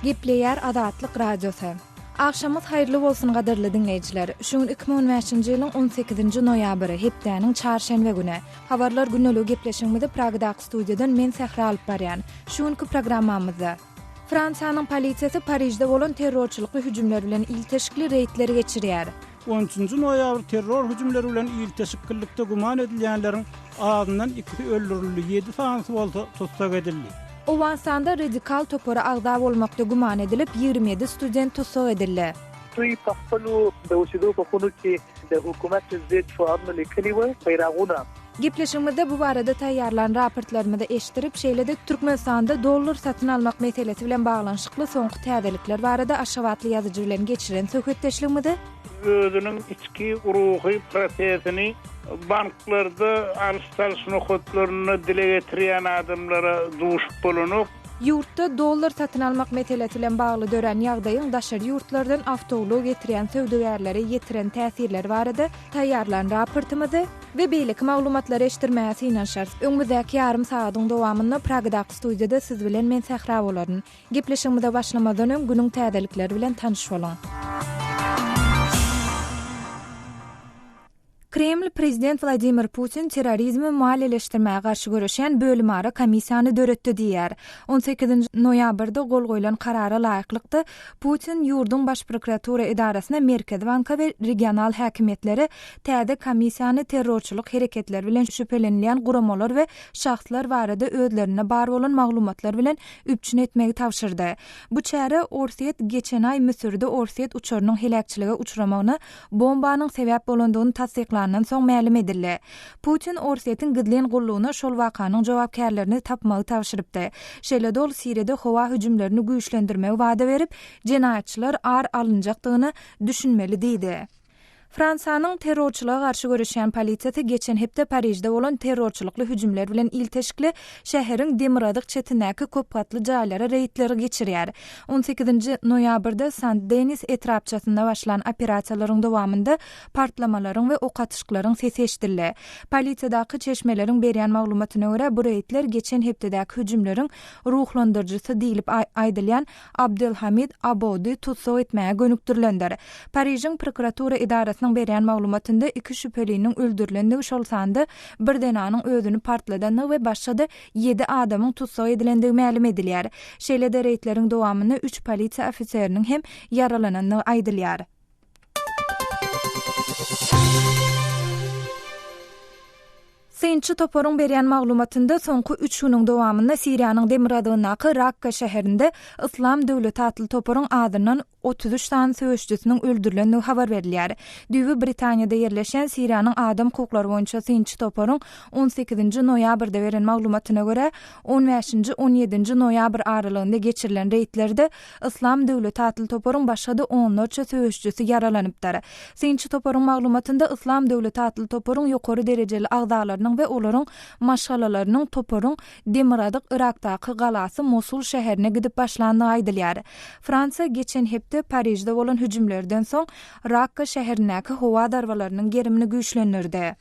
Gepleýär Azatlyk Radiosy. Agşamyz haýyrly bolsun gadyrly diňleýjiler. Şu gün 2015-nji ýylyň 18-nji noýabry, hepdäniň çarşenbe güni. Habarlar güneligi gepleşigimizi Pragadag studiýadan men Sähra alyp barýan. Şu günki programmamyzda. Fransiýanyň polisiýasy Parižde bolan terrorçylykly hüjümler bilen ilteşikli reýdleri geçirýär. On üçünji noýabr terror hüjümleri bilen ilteşiklilikde güman edilýänleriň azyndan ikisi öldürildi, ýedi sanysy bolsa tussag edildi. Owganystanda radikal topara agza bolmakda güman edilip, ýigrimi ýedi student tussag edildi. Tuýpahpalu, Dawşidupahunuki, Dawhukumatyzid, Fuadnulekeliwe, Baýraguna. Gepleşigimizde bu barada taýýarlan raportlarymyzy eşitdirip, şeýle-de Türkmenistanda dollar satyn almak meselesi bilen baglanyşykly soňky täzelikler barada aşgabatly ýazyjy bilen geçiren söhbetdeşligimizi özüniň içki ruhy prosesini banklarda alyş-çalyş nokatlarynda dile getirýän adamlara duşup bolanok. Ýurtda dollar satyn almak meselesi bilen bagly dörän ýagdaýyň daşary ýurtlardan awtoulag getirýän söwdagärlere ýetiren täsirleri barada taýýarlan raportymyzy we beýleki maglumatlary eşitdirmäge synanyşarys. Öňümizdäki ýarym sagadyň dowamynda Pragadaky studiýada siz bilen men sähra bolaryn. Gepleşigimize başlamazdan öň günüň täzelikleri bilen tanyş boluň. Kreml prezident Wladimir Putin terrorizmi maliýeleşdirmäge garşy göreşýän bölümara komissiýany döretdi diýýär. On sekizinji noýabrda gol goýlan karara laýyklykda, Putin ýurduň baş prokuratura edarasyna, Merkezi banka we regional häkimiýetlere täze komissiýany terrorçylyk hereketleri bilen şübhelenilýän guramalar we şahslar barada özlerinde bar bolan maglumatlar bilen üpjün etmegi tabşyrdy. Bu çäre Orsýet geçen aý Müsürde orsýet uçarynyň heläkçilige uçramagyna bombanyň sebäp bolandygyny tassyklandan soň mälim edildi. Putin Orsýetiň gizlin gullugyna şol wakanyň jogapkärlerini tapmagy tabşyrypdy. Şeýle-de ol Siriýada howa hüjümlerini güýçlendirmegi wada berip, jenaýatçylar ar alynjakdygyna düşünmeli diýdi. Fransiýanyň terrorçylyga garşy göreşýän polisiýasy geçen hepde Parižde bolan terrorçylykly hüjümler bilen ilteşikli şäheriň demirgazyk çetindäki köp gatly jaýlara reýdleri geçirýär. On sekizinji noýabrda Sent-Denis etrapçasynda başlan operasiýalaryň dowamynda partlamalaryň we ok atyşyklaryň sesi eşidildi. Polisiýadaky çeşmeleriň berýän maglumatyna görä, bu reýdler geçen hepdedäki hüjümleriň ruhlandyryjysy diýlip aýdylýan Abdelhamid Aboudy tussag etmäge gönükdirilendir. Parižiň prokuratura edarasynyň berýän maglumatynda iki şübheliniň öldürilendigi şol sanda bir zenanyň özüni partladandygy we başga-da ýedi adamyň tussag edilendigi mälim edilýär. Şeýle-de reýdleriň dowamynda üç polisiýa ofiseriniň hem ýaralanandygy aýdylýar. Synçy toparyň berýän maglumatynda soňky üç günüň dowamynda Siriýanyň demirgazygyndaky Rakka şäherinde Yslam döwleti atly toparyň azyndan otuz üç sany söweşçisiniň öldürilendigi habar berilýär. Düýbi Britaniýada ýerleşýän Siriýanyň adam hukuklary boýunça synçy toparyň on sekizinji noýabrda beren maglumatyna görä, on bäşinji, on ýedinji noýabr aralygynda geçirilen reýdlerde Yslam döwleti atly toparyň başga-da onlarça söweşçisi ýaralanypdyr. Synçy toparyň maglumatynda Yslam döwleti atly toparyň ýokary derejeli agzalarynyň we olaryň maşgalalarynyň toparyň demirgazyk Yrakdaky galasy Mosul şäherine gidip başlandygy aýdylýar. Fransiýa geçen hepde Parižde bolan hüjümlerden soň Rakka şäherindäki howa zarbalarynyň gerimini güýçlendirdi.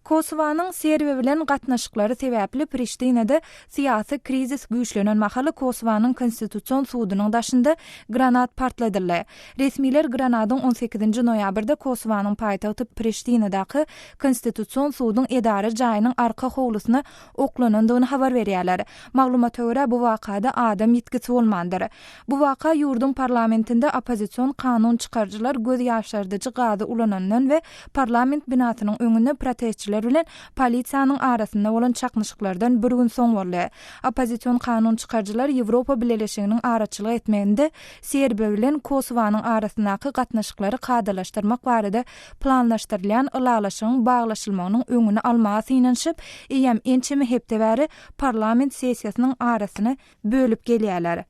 Kosowanyň Serbiýa bilen gatnaşyklary sebäpli Priştinede syýasy krizis güýçlenen mahaly Kosowanyň Konstitusion sudunyň daşynda granat partladyldy. Resmiler granadyň on sekizinji noýabrda Kosowanyň paýtagty Priştinadaky Konstitusion suduň edara jaýynyň arka howlusyna oklanandygyny habar berýärler. Maglumata görä, bu wakada adam ýitgisi bolmandyr. Bu waka ýurduň parlamentinde oppozision kanun çykaryjylar göz ýaşardyjy gazy ulanandan we parlament binasynyň öňünde protestçiler bilen polisiýanyň arasynda bolan çaknyşyklardan bir gün soň boldy. Oppozision kanun çykaryjylar Ýewropa Bileleşiginiň araçylyk etmeginde Serbiýa bilen Kosowanyň arasyndaky gatnaşyklary kadalaşdyrmak barada planlaşdyrylýan ylalaşygyň baglaşylmagynyň öňüni almaga synanyşyp, eýýäm ençeme hepde bäri parlament sessiýasynyň arasyny bölüp gelýärler.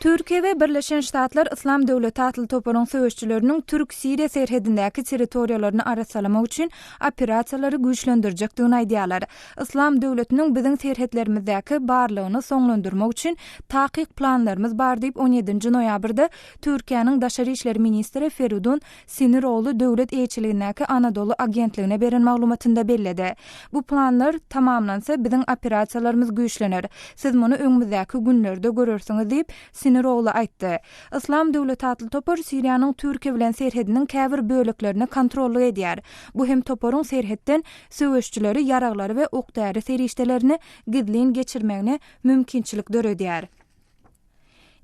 Türkiýe we Birleşen Ştatlar Yslam döwleti atly toparyň söweşçileriniň türk-siriýa serhedindäki territoriýalaryny arassalamak üçin operasiýalary güýçlendirjekdigini aýdýarlar. Yslam döwletiniň biziň serhetlerimizdäki barlygyny soňlandyrmak üçin takyk planlarymyz bar diýip, on ýedinji noýabrda Türkiýäniň daşary işler ministri Feridun Siniroglu döwlet eýeçiligindäki Anadolu agentligine beren maglumatynda belledi. Bu planlar tamamlansa, biziň operasiýalarymyz güýçlener. Siz muny öňümizdäki günlerde görersiňiz diýip, Siniroglu aýtdy. Yslam döwleti atly topar Siriýanyň Türkiýe bilen serhediniň käbir böleklerini kontrollyk edýär. Bu hem toparyň serhetden söweşçileri ýaraglary we ok-däri serişdelerini gizlin geçirmegine mümkinçilik döredýär.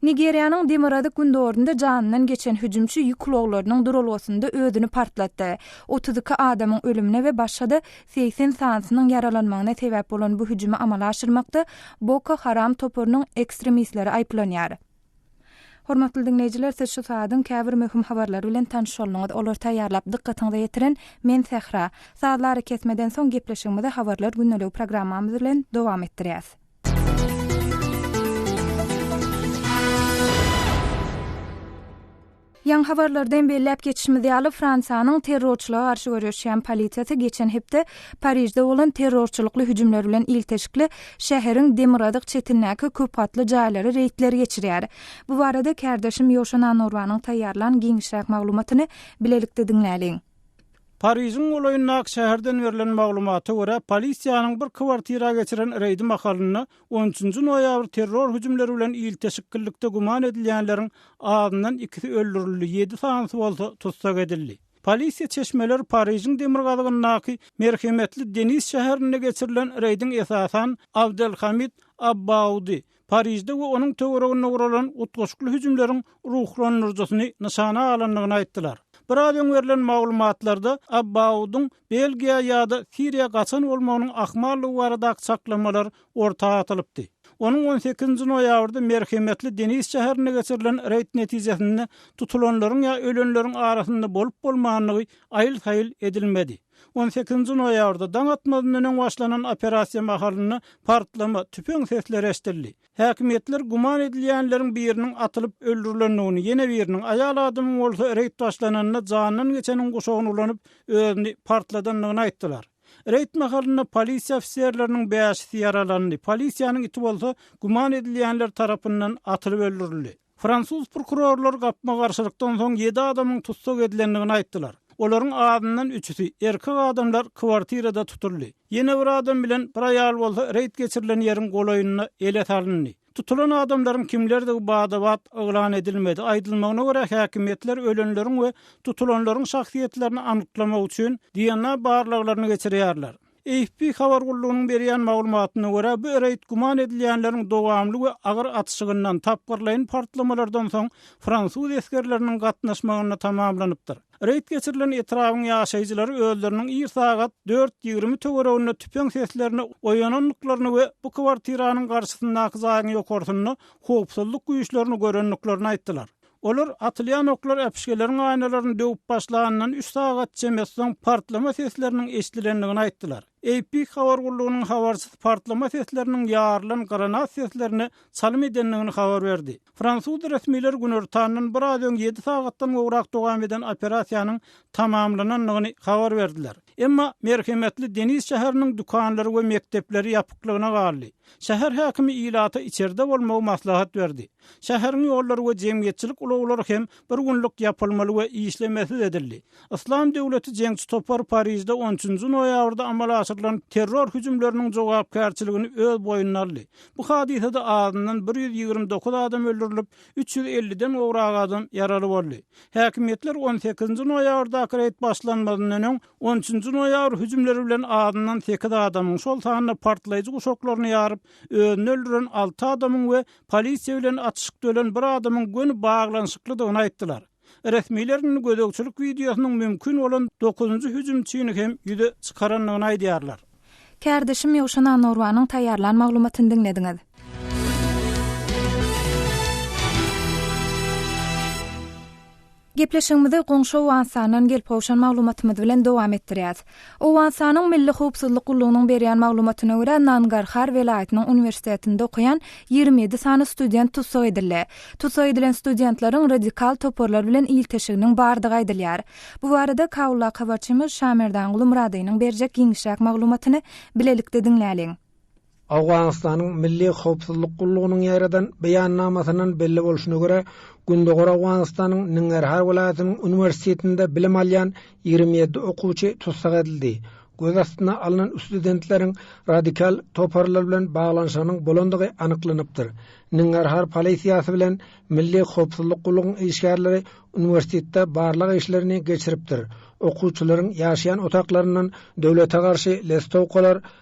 Nigeriýanyň demirgazyk-gündogarynda janyndan geçen hüjümçi ýük ulaglarynyň duralgasynda özüni partlatdy. Otuz iki adamyň ölümine we başga-da segsen sanysynyň ýaralanmagyna sebäp bolan bu hüjümi amala aşyrmakda Boko Haram toparynyň ekstremistleri aýyplanýar. Hormatly diňleýjiler siz şu sazyň käbir möhüm habarlary bilen tanyşaldyňyz olary taýýarlap dykgatyňyza ýetiren men Sähra. Sazly arakesmeden soň gepleşigimizi habarlar gündeligi programmamyz bilen dowam etdirýäs. Ýaňy habarlarda hem belläp geçişimiz ýaly, Fransiýanyň terrorçylyga garşy göreşýän polisiýasy geçen hepde Parižde bolan terrorçylykly hüjümler bilen ilteşikli, şäheriň demirgazyk çetindäki köp gatly jaýlara reýdleri geçirýär. Bu barada kärdeşim Ýoşa Nanurbanyň taýýarlan giňişräk maglumatyny bilelikde diňläliň. Parižiň golaýyndaky şäherden berlen maglumata görä, polisiýanyň bir kwartira geçiren reýdi mahalynda On üçünji noýabr terror hüjümleri bilen ilteşiklilikde güman edilýänleriň azyndan ikisi öldürildi, ýedi sanysy bolsa tussag edildi. Polisiýa çeşmeleri Parižiň demirgazygyndaky merhemetli Denis şäherinde geçirilen reýdiň esasan Abdelhamid Abbaudy, Parižde we onuň töwereginde guralan utgaşykly hüjümleriň ruhlandyryjysyny nyşana alandygyny aýtdylar. Biraz öň berlen maglumatlarda Abbaudyň Belgiýa ýa-da Siriýa gaçan bolmagynyň ahmallygy baradaky çaklamalar orta atylypdy. Onuň on sekizinji noýabrda merhemetli Denis şäherinde geçirilen reýd netijesinde tutulanlaryň ýa ölenleriň arasynda bolup-bolmandygy aýyl-saýyl edilmedi. On sekizinji noýabrda daň atmazyndan öň başlanan operasiýa mahalynda partlama, tüpeň sesleri eşidildi. Häkimiýetler güman edilýänleriň biriniň atylyp öldürilendigini, ýene biriniň, aýal adamyň bolsa reýd başlananda jandan geçeniň guşagyny ulanyp, özüni partladandygyny aýtdylar. Reýd mahalynda polisiýa ofiserleriniň bäşisi ýaralandy, polisiýanyň iti bolsa güman edilýänler tarapyndan atylyp öldürildi. Fransuz prokurorlary gapma-garşylykdan soň ýedi adamyň tussag edilendigini aýtdylar. Olaryň azyndan üçüsi, erkek adamlar kwartirada tutuldy. Ýene bir adam bilen bir aýal bolsa reýd geçirilen ýeriň golaýynda ele salyndy. Tutulan adamlaryň kimlerdigi bada-bat yglan edilmedi. Aýdylmagyna görä, häkimiýetler ölenleriň we tutulanlaryň şahsyýetlerini anyklamak üçin DNA barlaglaryny geçirýärler. AFP habar gullugynyň berýän maglumatyna görä, bu reýd güman edilýänleriň dowamly we agyr atyşygyndan, tapgyrlaýyn partlamalardan soň fransuz esgerleriniň gatnaşmagynda tamamlanypdyr. Reýd geçirilen etrabyň ýaşaýjylary özleriniň ir sagat dört ýigrimi töwereginde tüpeň seslerine oýanandyklaryny we bu kwartiranyň garşysyndaky jaýyň ýokarsynda howpsuzlyk güýçlerini görendiklerini aýtdylar. Olar atylýan oklar äpişgeleriň aýnalaryny döwüp başlanyndan üç sagat çemesi soň partlama sesleriniň eşidilendigini aýtdylar. AP habar gullugynyň habarçysy partlama sesleriniň ýarylan granat seslerine çalym edendigini habar berdi. Fransuz resmileri günortandan biraz öň ýedi sagatdan gowrak dowam eden operasiýanyň tamamlanandygyny habar berdiler. Emma merhemetli Denis şäheriniň dükanlary we mekdepleri ýapyklygyna galdy. Şäher häkimi ilata içerde bolmagy maslahat berdi. Şäheriň ýollary we jemgyýetçilik ulaglary hem bir günlük ýapylmaly we işlemesiz edildi. Yslam döwleti jeňçi topar Parižde on üçünji noýabrda amala aşyrylan terror hüjümleriniň jogapkärçiligini öz boýnuna aldy. Bu hadysada azyndan bir ýüz ýigrimi dokuz adam öldürilip, üç ýüz elliden gowrak adam ýaraly boldy. Häkimiýetler on sekizinji noýabrdaky reýd başlanmazyndan öň on üçünji noýabr hüjümleri bilen azyndan sekiz adamyň, şol sanda partlaýjy guşaklaryny ýaryp, özüni öldüren alty adamyň we polisiýa bilen atyşyk dölen bir adamyň göni baglanyşyklydygyny aýtdylar. Resmiler indi gözegçilik wideosynyň mümkin bolan dokuzynjy hüjümçini hem ýüze çykarandygyny aýdýarlar. Kärdeşim Ýowşan Anorwanyň taýýarlan maglumatyny diňlediňiz. Gepleşigimizi goňşy Owganystandan gelip gowşan maglumatymyz bilen dowam etdirýäs. Owganystanyň Milli howpsuzlyk gullugynyň berýän maglumatyna görä, Nangarhar welaýatynyň uniwersitetinde okaýan ýigrimi ýedi sany student tussag edildi. Tussag edilen studentleriň radikal toparlar bilen ilteşiginiň bardygy aýdylýar. Bu barada Kabuldaky habarçymyz Şamerdanguly Myradynyň berjek giňişräk maglumatyny bilelikde diňläliň. Owganystanyň Milli howpsuzlyk gullugynyň ýaýradan beýannamasyndan belli bolşuna görä, Gündogar Owganystanyň Nengerhar welaýatynyň uniwersitetinde bilim alýan ýigrimi ýedi okuwçy tussag edildi. Göz astyna alnan ustudentleriň radikal toparlar bilen baglanyşygynyň bolandygy anyklanypdyr. Nengerhar polisiýasy bilen Milli howpsuzlyk gullugyň işgärleri uniwersitetde barlag işlerini geçiripdir, okuwçylaryň ýaşaýan otaklaryndan döwlete garşy listowkalar,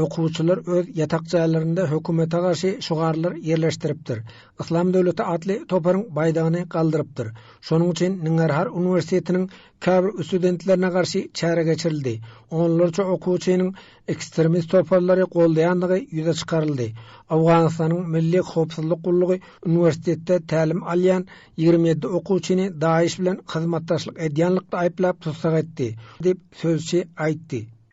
Okuwçylar öz ýatak jaýlarynda hökümete garşy şugarlar ýerleşdiripdir. Yslam döwleti atly toparyň baýdagyny galdyrypdyr. Şonuň üçin Ngngarhar uniwersitetiniň käbir üstudentlerine garşy çäre geçirildi. Onlarça okuwçynyň ekstremist toparlary goldaýandygy ýüze çykaryldy. Owganystanyň Milli howpsuzlyk gullugy uniwersitetde tälim alýan ýigrimi ýedi okuwçyny DAIŞ bilen hyzmatdaşlyk edýänlikde aýyplap tussag etdi, diýip, sözçi aýtdy.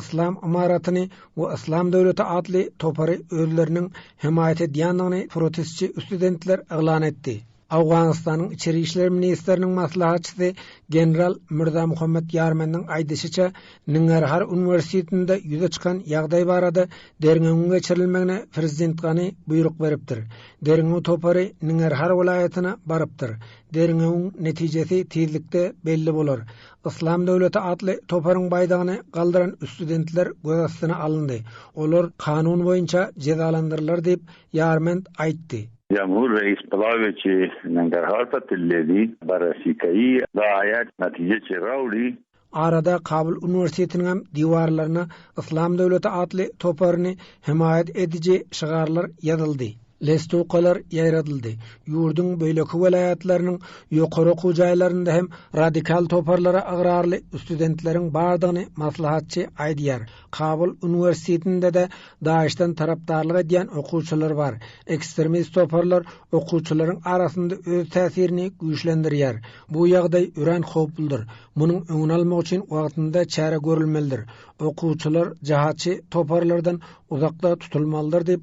Yslam ymaratyny we Yslam döwleti atly topary özleriniň hemaýat edýändigini protestçi ustudentler yglan etdi. Owganystanyň içeri işler ministriniň maslahatçysy general Mirzamuhammet Ýarmendiň aýdyşyça, Nnggarhar uniwersitetinde ýüze çykan ýagdaý barada derňewiň geçirilmegine prezident Gani buýruk beripdir. Derňew topary Nnggarhar welaýatyna barypdyr. Derňewiň netijesi tizlikde belli bolar. Yslam döwleti atly toparyň baýdagyny galdyran üstudentler göz astyna alyndy, olar kanun boýunça jezalandyrylar diýip, Ýarmend aýtdy. Jamhur reis Palaweçi men derhal tatilledi, barasikai zaýat natije çerauli. Arada Kabul uniwersitetiniň hem diwarlaryna Yslam döwleti atly toparyny hemaýat ediji şygarlar ýazyldy. Lestukalar ýaýradyldy. Ýurduň beýleki welaýatlarynyň ýokary okuw jaýlarynda hem radikal toparlara ygrarly ustudentleriň bardygyny maslahatçy aýdýar. Kabul uniwersitetinde-de DAIŞ-den tarapdarlyk edýän okuwçylar bar. Ekstremist toparlar okuwçylaryň arasynda öz täsirini güýçlendirýär. Bu ýagdaý örän howpludyr. Munuň öňüni almak üçin wagtynda çäre görülmelidir. Okuwçylar jahatçy toparlardan uzakda tutulmalydyr diýip,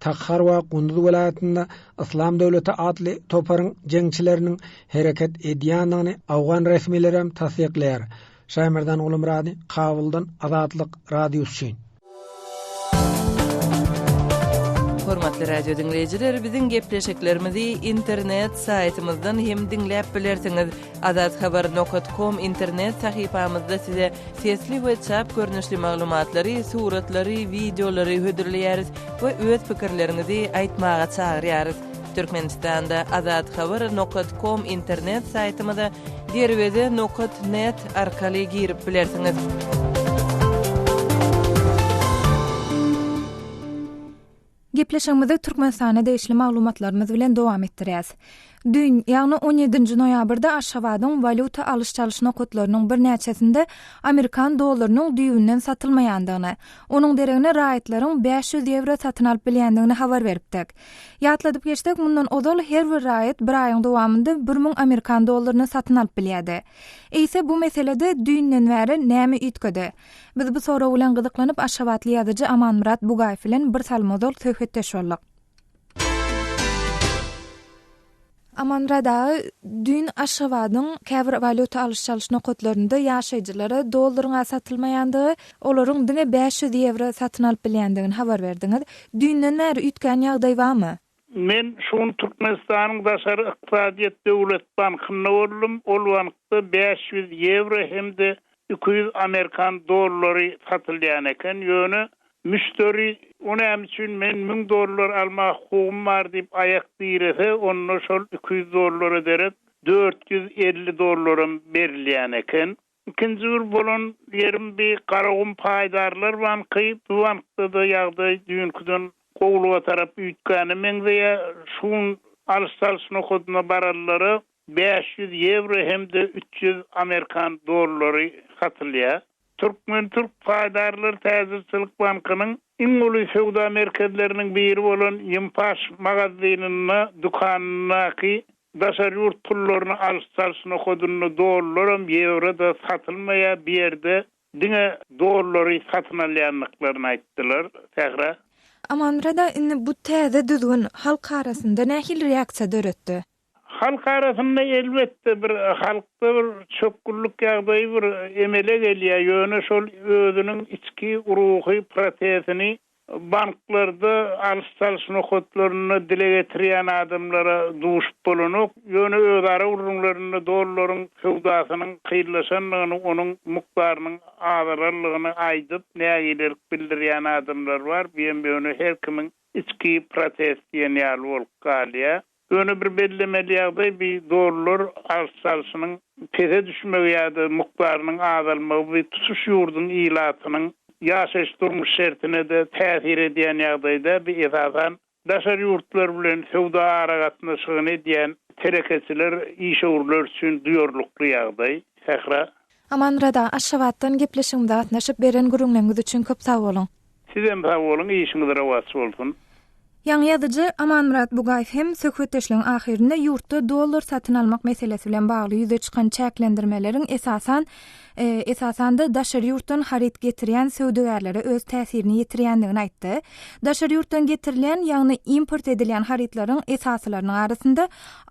Tahar we Gunduz welaýatynda Yslam döwleti atly toparyň jeňçileriniň hereket edýändigini awgan resmileri hem tassyklaýar. Şaýmerdan Gulmyrady, Kabuldan Azatlyk Radiosy üçin. Hormatly radio diňleýjiler, biziň gepleşiklerimizi internet saýtymyzdan hem diňläp bilersiňiz. Azathabar nokat kom internet sahypamyzda size sesli we çap görnüşli maglumatlary, suratlary, wideolary hödürleýäris we öz pikirleriňizi aýtmaga çagyrýarys. Türkmenistanda Azathabar nokat kom internet saýtymyza derweze nokat net arkaly girip bilersiňiz. Gepleşigimizi Türkmenistana degişli maglumatlarymyz bilen dowam etdirýäs. Düýn, ýagny on ýedinji noýabrda Aşgabadyň walýuta alyş-çalyş nokatlarynyň birnäçesinde amerikan dollarynyň düýbünden satylmaýandygyny, onuň deregine raýatlaryň bäş ýüz ýewro satyn alyp bilýändigini habar beripdik. Ýatladyp geçsek, mundan ozal her bir raýat bir aýyň dowamynda bir müň amerikan dollaryny satyn alyp bilýärdi. Eýse bu meselede düýnden bäri näme üýtgedi? Biz bu sorag bilen gyzyklanyp, aşgabatly ýazyjy Amanmyrat Bugaýew bilen birsalym ozal söhbetdeş bolduk. Amanmyrat aga, düýn Aşgabadyň käbir walýuta alyş-çalyş nokatlarynda ýaşaýjylara dollaryn az satylmaýandygy, olaryň diňe bäş ýüz ýewro satyn alyp bilýändigini habar berdiňiz. Düýnden bäri üýtgän ýagdaý barmy? Men şu gün Türkmenistanyň Daşary ykdysadyýet döwlet bankynda boldum, ol bankda bäş ýüz ýewro hem-de iki ýüz amerikan dollary satylýan eken, ýöne müşderi, O näme üçin men müň dollar alma hukugym bar diýip aýak direse, onda şol iki ýüz dollara derek dört ýüz elli dollaram berilýän eken. Ikinji gür bolan ýerim bi Garagum paýdarlar banky, bu bankda-da ýagdaý düýnküden gowulyga tarap üýtgäne meňzeýär. Şu gün alyş-çalyş nokadyna barelleri bäş ýüz ýewro hem-de üç ýüz amerikan dollary satylýar. Türkmen-türk paýdarlar täjirçilik bankynyň Iň uly söwda merkezleriniň biri bolan Ýimpaş magazynynda, dükanyndaky daşary ýurt pullaryny alyş-çalyş nohadynda dollaram, ýewro-da satylmaýar, bu ýerde diňe dollary satyn alýandyklaryny aýtdylar. Sähra. Amanmyrat aga, indi bu täze düzgün halk arasynda nähili reaksiýa döretdi? Halk arasynda elbetde bir halkda bir çökgünlik ýagdaýy bir emele gelýär, ýöne şol özüniň içki ruhy prosesini banklarda alyş-çalyş nokatlarynda dile getirýän adamlara duşup bolanok, ýöne özara gürrüňlerinde dollaryň söwdasynyň kynlaşandygyny, onuň mukdarynyň azalanlygyny aýdyp, nägilelik bildirýän adamlar bar, bu hem ýöne her kimiň içki protest diýen ýaly bolup galýar. Ýöne bir bellemeli ýagdaý bi dollar alş çalşynyň pese düşmegi ýa-da mukdarynyň azalmagy bi tutuş ýurduň ilatynyň ýaşaýyş-durmuş şertine-de täsir edýän ýagdaý däl, bi esasan daşary ýurtlar bilen söwda aragatnaşygyny edýän telekeçiler, işewürler üçin duýarlykly ýagdaý. Sähra. Aman Rada, Aşgabatdan gepleşigimize gatnaşyp, beren gürrüňleriňiz üçin köp sag boluň! Sizem sag boluň, işiňiz rowaç bolsun! Ýaňy ýazyjy Amanmyrat Bugaýew hem söhbetdeşligiň ahyrynda ýurtda dollar satyn almak meselesi bilen bagly ýüze çykan çäklendirmeleriň esasan, esasan-da, daşary ýurtdan haryt getirýän söwdagärlere öz täsirini ýetirýändigini aýtdy. Daşary ýurtdan getirilýän, ýagny import edilýän harytlaryň esasylarynyň arasynda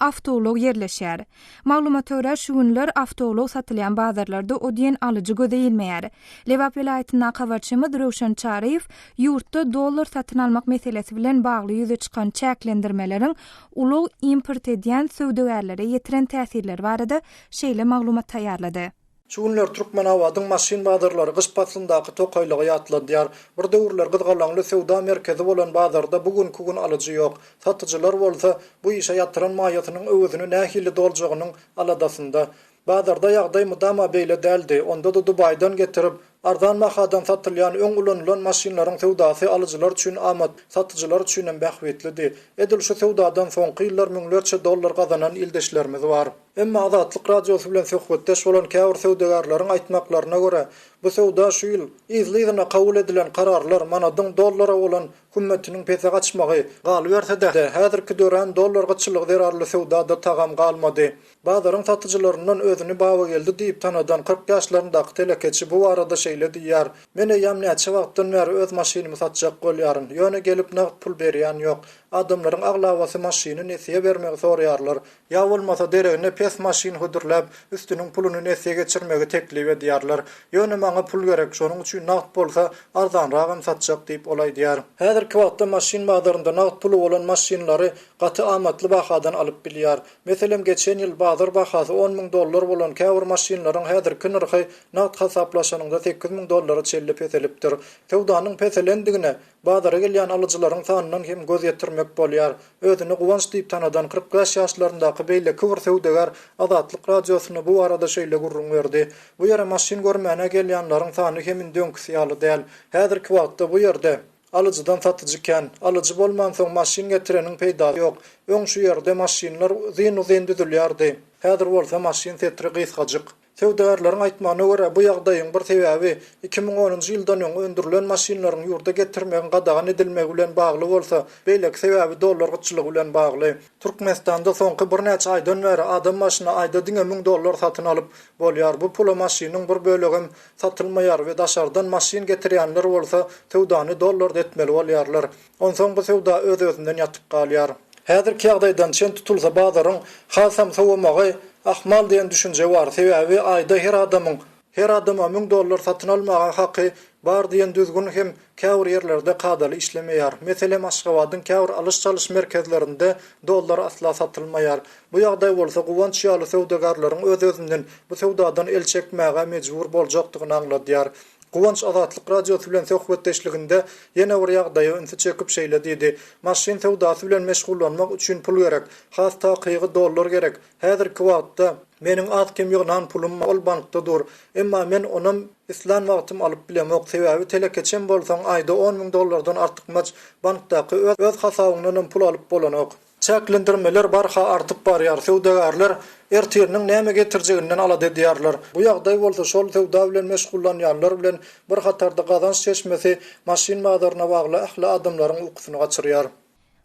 awtoulag ýerleşýär. Maglumata görä, şu günler awtoulag satylýan bazarlarda o diýen alyjy göze ilmeýär. Lebap welaýatyndan habarçymyz Röwşen Çaryýew ýurtda dollar satyn almak meselesi bilen bagly ýüze çykan çäklendirmeleriň ulag import edýän söwdagärlere ýetiren täsirleri barada şeýle maglumat taýýarlady. Şu günler Türkmenabadyň maşyn bazarlary gyş paslyndaky tokaýlygy ýatladýar. Bir döwürler gyzgalaňly söwda merkezi bolan bazarda bu günki gün alyjy ýok. Satyjylar bolsa, bu işe ýatyran maýasynyň öwezini nähili doljagynyň aladasynda. Bazarda ýagdaý mydama beýle däldi, onda-da Dubaýdan getirip, Arzan bahadan satylýan öň ulanylan maşynlaryň söwdasy alyjylar üçin amat, satyjylar üçinem bähbitlidi. Edil şu söwdadan soňky ýyllar müňlerçe dollar gazanan ildeşlerimiz bar. Emma Azatlyk Radiosy bilen söhbetdeş bolan käbir söwdagärleriň aýtmaklaryna görä, bu söwda şu ýyl, yzly-yzyna kabul edilen kararlar, manadyň dollara bolan hümmetiniň pese gaçmagy, galyberse-de, häzirki dörän dollar gytçylygy zerarly söwda-da tagam galmady. Bazaryň satyjylaryndan özüni Babageldi diýip tanadan kyrk ýaşlaryndaky telekeçi bu barada şeýle diýýär, Men eýýäm näçe wagtdan bäri öz maşynymy satjak bolýaryn, ýöne gelip nagt pul berýän ýok. Adamlaryň aglabasy maşyny nesýe bermegi soraýarlar, ýa bolmasa deregine pes maşyn hödürläp, üstüniň puluny nesýe geçirmegi teklip edýärler. Ýöne maňa pul gerek, şonuň üçin nagt bolsa, arzanragam satjak diýip, ol aýdýar. Häzirki wagtda maşyn bazarynda nagt puly bolan maşynlary gaty amatly bahadan alyp bilýär. Meselem, geçen ýyl bazar bahasy on müň dollar bolan käbir maşynlaryň häzirki nyrhy nagt hasaplaşanyňda sekiz müň dollara çenli peselipdir. Söwdanyň peselendigine bazara gelýän alyjylaryň sanyndan hem göz ýetirmek bolýar. Özüni Guwanç diýip tanadan kyrk bäş ýaşlaryndaky beýleki bir söwdagär Azatlyk Radiosyna bu barada şeýle gürrüň berdi, Bu ýere maşyn görmäne gelýänleriň sany hem indi öňküsi ýaly däl. Häzirki wagtda bu ýerde. Alyjydan satyjy kän. Alyjy bolmansoň maşyn getireniň peýdasy ýok. Öň şu ýerde maşynlar uzyn-uzyn düzülýärdi. Häzir bolsa maşyn setri gysgajyk. Söwdagärleriň aýtmagyna görä, bu ýagdaýyň bir sebäbi iki müň onunjy ýyldan öň öndürilen maşynlaryň ýurda getirmegiň gadagan edilmegi bilen bagly bolsa, beýleki sebäbi dollar gytçylygy bilen bagly. Türkmenistanda soňky birnäçe aýdan bäri adam başyna aýda diňe müň dollar satyn alyp bolýar. Bu pula maşynyň bir bölegem satylmaýar we daşardan maşyn getirýänler bolsa söwdany dollarda etmeli bolýarlar. Onsoň bu söwda öz-özünden ýatyp galýar. Häzirki ýagdaýdan çen tutulsa bazaryň hasam sowamagy ahmal diýen düşünje bar, sebäbi aýda her adamyň, her adama müň dollar satyn almaga haky bar diýen düzgün hem käbir ýerlerde kadaly işlemeýär. Meselem Aşgabadyň käbir alyş-çalyş merkezlerinde dollar asla satylmaýar. Bu ýagdaý bolsa Guwanç ýaly söwdagarlaryň öz-özünden bu söwdadan el çekmäge mejbur boljakdygyny aňladýar. Guwanç Azatlyk Radiosy bilen söhbetdeşliginde ýene bir ýagdaýa ünsi çekip şeýle diýdi, Maşyn söwdasy bilen meşgullanmak üçin pul gerek. Has takygy dollar gerek. Häzirki wagtda meniň az-kem ýygnan pulum ol bankda dur. Emma men onam islän wagtym alyp bilemok, sebäbi telekeçem bolsaň aýda on müň dollardan artykmaç bankdaky öz hasabyňdanam pul alyp bolanok. Çäklendirmeler barha artyp barýar, söwdagärler ertiriniň näme getirjeginden alada edýärler. Bu ýagdaý bolsa şol söwda bilen meşgullanýanlar bilen bir hatarda gazanç çeşmesi, maşyn bazaryna bagly ähli adamlaryň ukusyny gaçyrýar.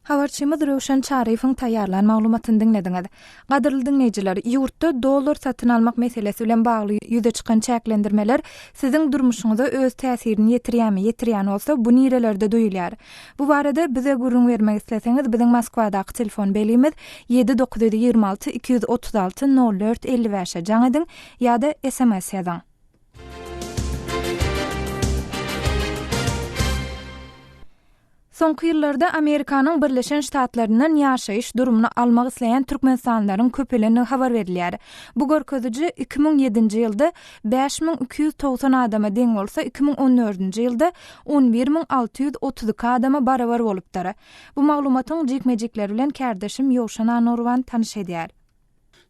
Habarçymyz Röwşen Çaryýewiň taýýarlan maglumatyny diňlediňiz. Gadyrly diňleýjiler, ýurtda dollar satyn almak meselesi bilen bagly ýüze çykan çäklendirmeler siziň durmuşyňyza öz täsirini ýetirýärmi, ýetirýän bolsa, bu nirelerde duýulýar? Bu barada bize gürrüň bermek isleseňiz, biziň Moskwadaky telefon belgimiz, ýedi dokuz ýüz ýigrimi alty, iki ýüz otuz alty, nol dört elli bäş e jaň ediň ýa-da sms ýazyň. Soňky ýyllarda Amerikanyň Birleşen Ştatlaryndan ýaşaýyş durumyny almak isleýän türkmenistanlylaryň köpelendigi habar berilýär. Bu görkeziji iki müň ýedinji ýylda bäş müň iki ýüz togsan adama deň bolsa, iki müň on dördünji ýylda on bir müň alty ýüz otuz iki adama barabar bolupdyr. Bu maglumatyň jikme-jikleri bilen kärdeşim Ýowşan Anurwan tanyş edýär.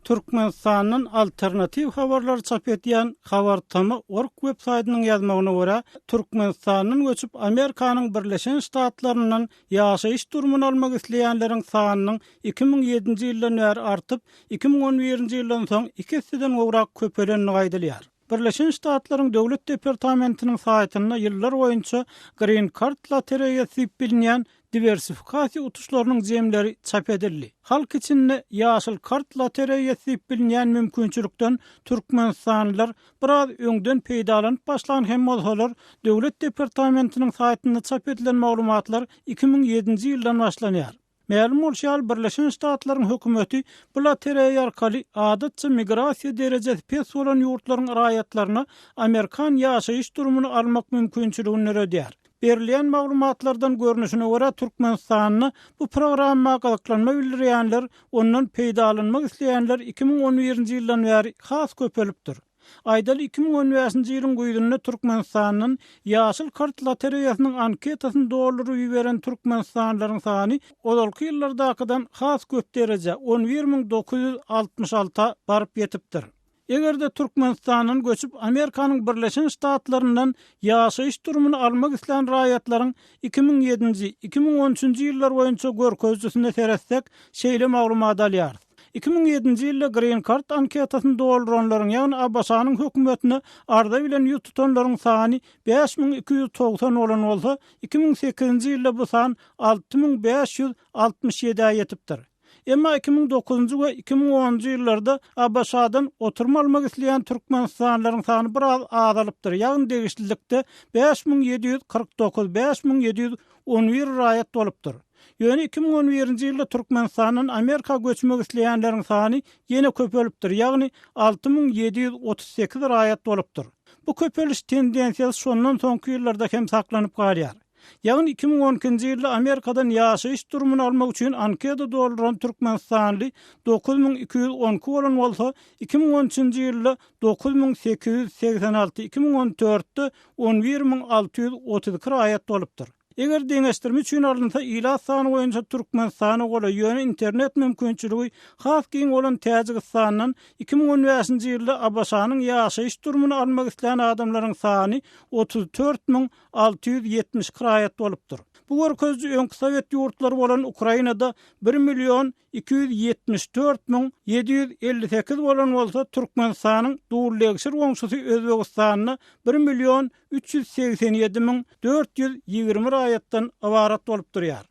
Türkmenistandan alternatiw habarlary çap edýän Habar Tama org web saýtynyň ýazmagyna görä, Türkmenistandan göçüp Amerikanyň Birleşen Ştatlaryndan ýaşaýyş durumyny almak isleýänleriň sanynyň iki müň ýedinji ýyldan bäri artyp, iki müň on birinji ýyldan soň iki esseden gowrak köpelendigi aýdylýar. Birleşen Ştatlaryň Döwlet departamentiniň saýtynda ýyllar boýunça Green Card lotereýasy diýip bilinýän diwersifikasiýa utuşlarynyň jemleri çap edildi. Halk içinde Ýaşyl kart lotereýasy diýip bilinýän mümkinçilikden türkmenistanlylar biraz öňden peýdalanyp başlan hem bolsalar, Döwlet departamentiniň saýtynda çap edilen maglumatlar iki müň ýedinji ýyldan başlanýar. Mälim bolşy ýaly, Birleşen Ştatlaryň hökümeti bu lotereýa arkaly adatça migrasiýa derejesi pes bolan ýurtlaryň raýatlaryna amerikan ýaşaýyş durumyny almak mümkinçiligini döredýär. Berilýän maglumatlardan görnüşine görä, Türkmenistanda bu programma gyzyklanma bildirýänler, ondan peýdalanmak isleýänler iki müň on birinji ýyldan bäri has köpelipdir. Aýdaly, iki müň on bäşinji ýylyň güýzünde Türkmenistandan Ýaşyl kart lotereýasynyň anketasyny dolduryp iberen türkmenistanlylaryň sany ozalky ýyllardakydan has köp derejä, on bir müň dokuz ýüz altmyş alty, a baryp ýetipdir. Eger-de Türkmenistandan göçüp, Amerikanyň Birleşen Ştatlaryndan ýaşaýyş durumyny almak islän raýatlaryň iki müň ýedinji, iki müň on üçünji ýyllar boýunça görkezijisine seretsek, şeýle maglumat alýarys. Iki müň ýedinji ýylda Green Card anketasyny dolduranlaryň, ýagny ABŞ-nyň hökümetine arza bilen ýüz tutanlaryň sany bäş müň iki ýüz togsan bolan bolsa, iki müň sekizinji ýylda bu san alty müň bäş ýüz altmyş ýedä ýetipdir. Emma iki müň dokuzynjy we iki müň onunjy ýyllarda ABŞ-dan oturum almak isleýän türkmenistanlylaryň sany biraz azalypdyr, ýagny degişlilikde bäş müň ýedi ýüz kyrk dokuz, bäş müň ýedi ýüz on bir, raýat bolupdyr. Ýöne iki müň on birinji ýylda Türkmenistandan Amerika göçmek isleýänleriň sany ýene köpelipdir, ýagny alty müň ýedi ýüz otuz sekiz raýat bolupdyr. Bu köpeliş tendensiýasy şondan soňky ýyllarda hem saklanyp galýar. Ýagny iki müň on ikinji ýylda Amerikadan ýaşaýyş durumyny almak üçin anketa dolduran türkmenistanly dokuz müň iki ýüz on iki bolan bolsa, iki müň on üçünji ýylda dokuz müň sekiz ýüz segsen alty, iki müň on dörtde on bir müň alty ýüz otuz iki raýat bolupdyr. Eger deňeşdirme üçin alynsa, ilat sany boýunça Türkmenistana golaý, ýöne internet mümkinçiligi has giň bolan Täjigistandan iki müň on bäşinji ýylda ABŞ-nyň ýaşaýyş durumyny almak islän adamlaryň sany otuz dört müň alty ýüz ýetmiş iki raýat bolupdyr. Bu görkeziji öňki sowet ýurtlary bolan Ukrainada bir million iki ýüz ýetmiş dört müň ýedi ýüz elli sekiz bolan bolsa, Türkmenistanyň dul-legşir goňşusy Özbegistanda bir million üç ýüz segsen ýedi müň dört ýüz ýigrimi raýatdan ybarat bolup durýar.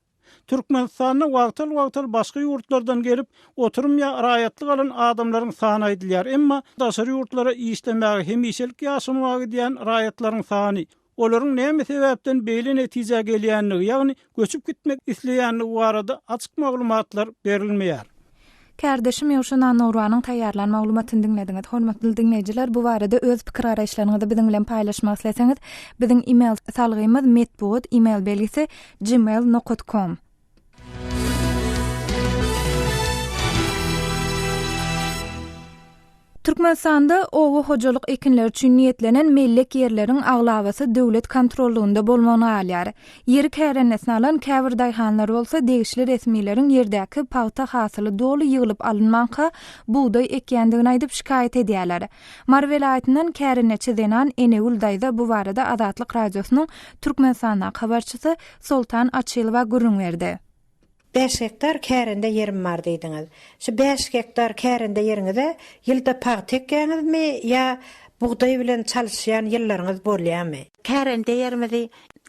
Türkmenistanda wagtal-wagtal başga ýurtlardan gelip, oturym ýa raýatlyk alan adamlaryň sany aýdylýar, emma daşary ýurtlara işlemäge hemişelik ýaşamaga gidýän raýatlaryň sany olaryň näme sebäpden beýle netijä gelýändigi, ýagny göçüp gitmek isleýändigi barada açyk maglumatlar berilmeýär. Kärdeşim Ýowşa Nanouruanyň taýýarlan maglumatyny diňlediňiz. Hormatly diňleýjiler, bu barada öz pikir-garaýyşlaryňyzy biziň bilen paýlaşmak isleseňiz, biziň e-mail salgymyz metbugat e-mail belgisi gmail nokat kom. Türkmenistanda oba hojalyk ekinleri üçin niýetlenen mellek ýerleriň aglabasy döwlet kontrollygynda bolmagyna galýar. Ýeri kärendesin alan käbir daýhanlar bolsa degişli resmileriň ýerdäki pagta hasyly doly ýyglyp alynmanka, bugdaý ekýändigini aýdyp şikaýat edýärler. Mary welaýatyndan kärendeçi zenan Enegül daýza bu barada Azatlyk Radiosynyň Türkmenistandaky habarçysy Soltan Açylowa gürrüň berdi. Bäş gektar kärende ýerim bar diýdiňiz. Şu bäş gektar kärende ýeriňize ýylda pagta ekýäňizmi ýa bugdaý bilen çalyşýan ýyllaryňyz bolýarmy? Kärende ýerimizi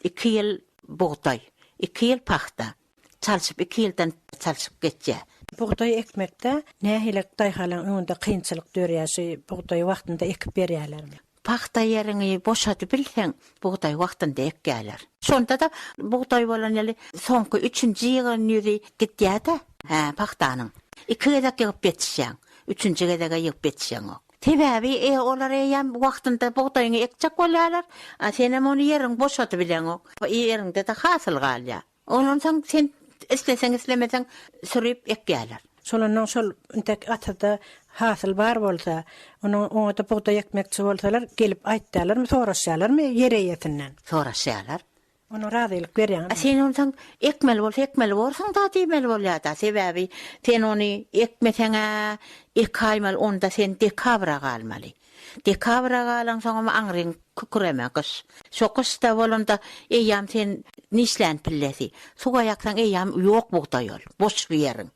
iki ýyl bugdaý, iki ýyl pagta çalşyp, iki ýyldan çalşyp geçýär. Bugdaý ekmekde nähili daýhanlaryň öňünde kynçylyk dörýär? Şu bugdaýy wagtynda ekip berýärlermi? Pagta ýeriňi boşadybilseň, bugdaý wagtynda ekýärler. Şonda-da bugdaý bolan ýyly soňky üçünji ýygan ýüzi gidýär-de. Hä, pagtanyň. Iki gezek ýygyp ýetişýäň. Üçünji gezege ýygyp ýetişeňok. Sebäbi olar eýýäm wagtynda bugdaýyňy ekjek bolýarlar, a senem ony ýeriňi boşadybileňok. Ýeriňde-de hasyl galýar. Ondan soň sen isleseň-islemeseň süriýip ekýärler. Solandan şol intek atyzda hasyl bar bolsa, onuň oňa-da bugdaý ekmekçi bolsalar, gelip aýtýarlarmy, soraşýarlarmy ýer eýesinden? Soraşýarlar. Onuň razylyk berýäňizmi? Sen ondan soň ekmeli bolsa ekmeli borsuň-da diýmeli bolýar-da. Sebäbi sen ony ekmeseň-ä, ekaýmaly, onda sen dekabra galmaly. Dekabra galansoňam aňryň küküreme gyş. Şo gyş-da bolanda eýýam sen nişlän pillesi. Suwa ýaksaň eýýam ýok bugdaý ol. Boş bu ýeriň.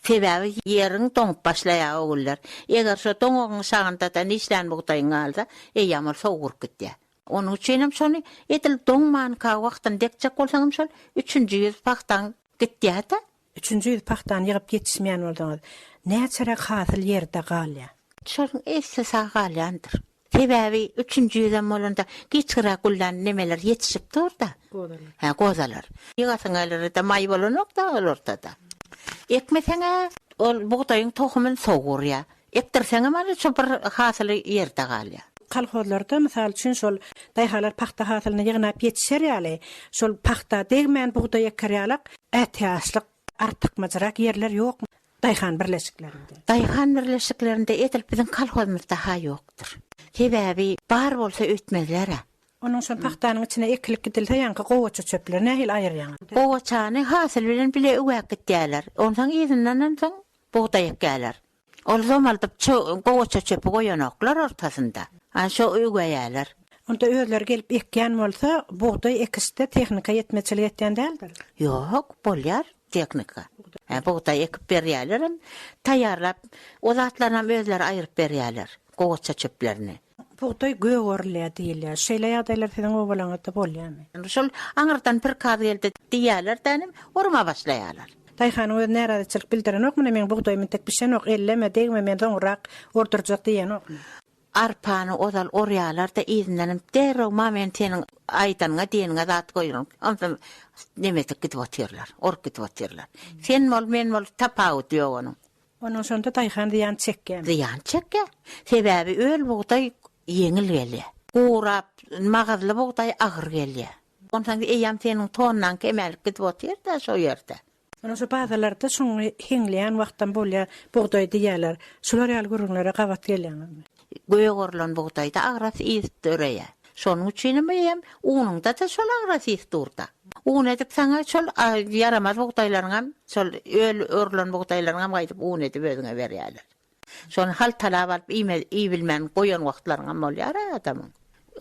Sebäbi ýeriň doňup başlaýar o günler. Eger şo doňugyň şagynda-da nişlän bugdaýyň galsa, eýýam ol sowguryp gidýär. Onuň üçinem şony edil doňmanka wagtyny dekjek bolsaňam şol üçünji ýüz pagtaň gitýär-de, Üçünji ýüz pagtany ýygyp ýetişmeýän bolsaňyz, näçeräk hasyl ýerde galýar? Şonuň esli sag galýandyr. Sebäbi üçünji ýüzem bolanda giçgräk güllän nemeler ýetişip dur-da. Gozalar. Hä, gozalar. Ýygasyň geler-de, maý bolanok-da ol ortada. Ekmeseň-ä, ol bugdaýyň tohumyny sowurýar. Ekdirseňem ol şu bir hasyly ýerde galýa. Kolhozlarda, mysal üçin, şol daýhalar pagta hasylyny ýygnap ýetişer ýaly, şol pagta degmän bugdaý eker ýalak ätiýaçlyk, artykmajyrak ýerler ýokmy daýhan birleşiklerinde? Daýhan birleşiklerinde edil biziň kolhozymyzda-ha ýokdur. Sebäbi bar bolsa öýtmezler-ä. Onuň şol pagtanyň içine ekilip gidilse ýaňky gowaça çöpleri nähili aýyrýaňyz? Gowaçany hasyl bilen bile üwäp gitýärler. Onsoň yzyndanam soň Bugdaý ekýärler. Ol zomaldyp ço gowaça çöpi goýanoklar ortasynda. Ana şo üweýäler. Onda özleri gelip ekýän bolsa, bugdaý ekişde tehnika ýetmezçilik etýän däldir? Ýok, bolýar tehnika. Hä, bugdaý ekip berýärlerem, taýýarlap, o zatlaranam özleri aýryp berýärler, gowaça çöplerini. Bugdaý gögerlýär diýilýär. Şeýle ýagdaýlar siziň obalaňyzda bolýarmy? Şol aňyrdan prikaz geldi diýýärler dänim, urma başlaýarlar. Daýhanyň özi närazyçylyk bildirenokmy, meň bugdaýym entek bişenok, elleme, degme, men soňurak urdurjak diýenokmy? Arpany ozal urýarlar-da, yzyndanam derrew ma men seniň aýdanyňa, diýeniňe zat goýaryn, onsoň nemedik gidip otyrlar, urup gidip otyrlar. Sen bol, men bol, tapawudy ýok onuň. Onuň şonda daýhan zyýan çekýän. Zyýan çekýär. Sebäbi öl bugdaý ýeňil gelýär. Gurap, magyzly bugdaý agyr gelýär. Onsoň eýýäm seniň tonnaň kemälik gidip otyr-da şo ýerde. Onuň şu bazalarda şuňňy heňleýän wagtam bolýar bugdaý diýýärler. Şular ýaly gürrüňlere gabat gelýäňizmi? Göýä gorlan bugdaýda agras ys döreýär. Şonuň üçinem eýýäm unuňda-da şol agras ys dur-da. Un edip saňa şol ýaramaz bugdaýlaryňam, şol öl orlan bugdaýlaryňam gaýdyp un edip özüňe berýärler. Şony haltalap alyp iýibilmän goýan wagtlaryňam bolýar-a adamyň.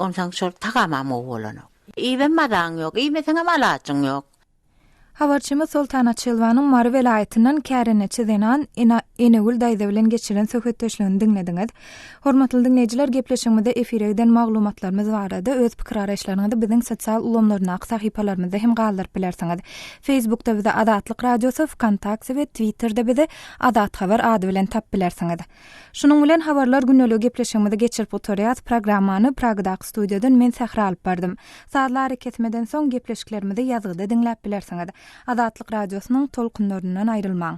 Onsoň şol tagamam gowy bolanok. Iýibem mazaň ýok, iýmeseňem alajyň ýok. Habarçymyz Soltan Açylwanyň Mary welaýatyndan kärendeçi zenan Ena Enegül daýza bilen geçiren söhbetdeşligini diňlediňiz. Hormatly diňleýjiler, gepleşigimizde efire giden maglumatlarymyz barada öz pikir-araýyşlaryňyzy biziň sosial ulgamlaryndaky sahypalarymyzda hem galdyryp bilersiňiz. Facebookda bizi Azatlyk Radiosy, Wkontakte we Twitterde bizi Azat Habar ady bilen tap bilersiňiz. Şunuň bilen habarlar gündelige gepleşigimizi geçirip gutarýas. Programmany Pragadaky studiýadan men Sähra alyp bardym. Sazly arakesmeden soň gepleşiklerimizi ýazgyda diňläp bilersiňiz. Azatlyk Radiosynyň tolkunlaryndan aýrylmaň.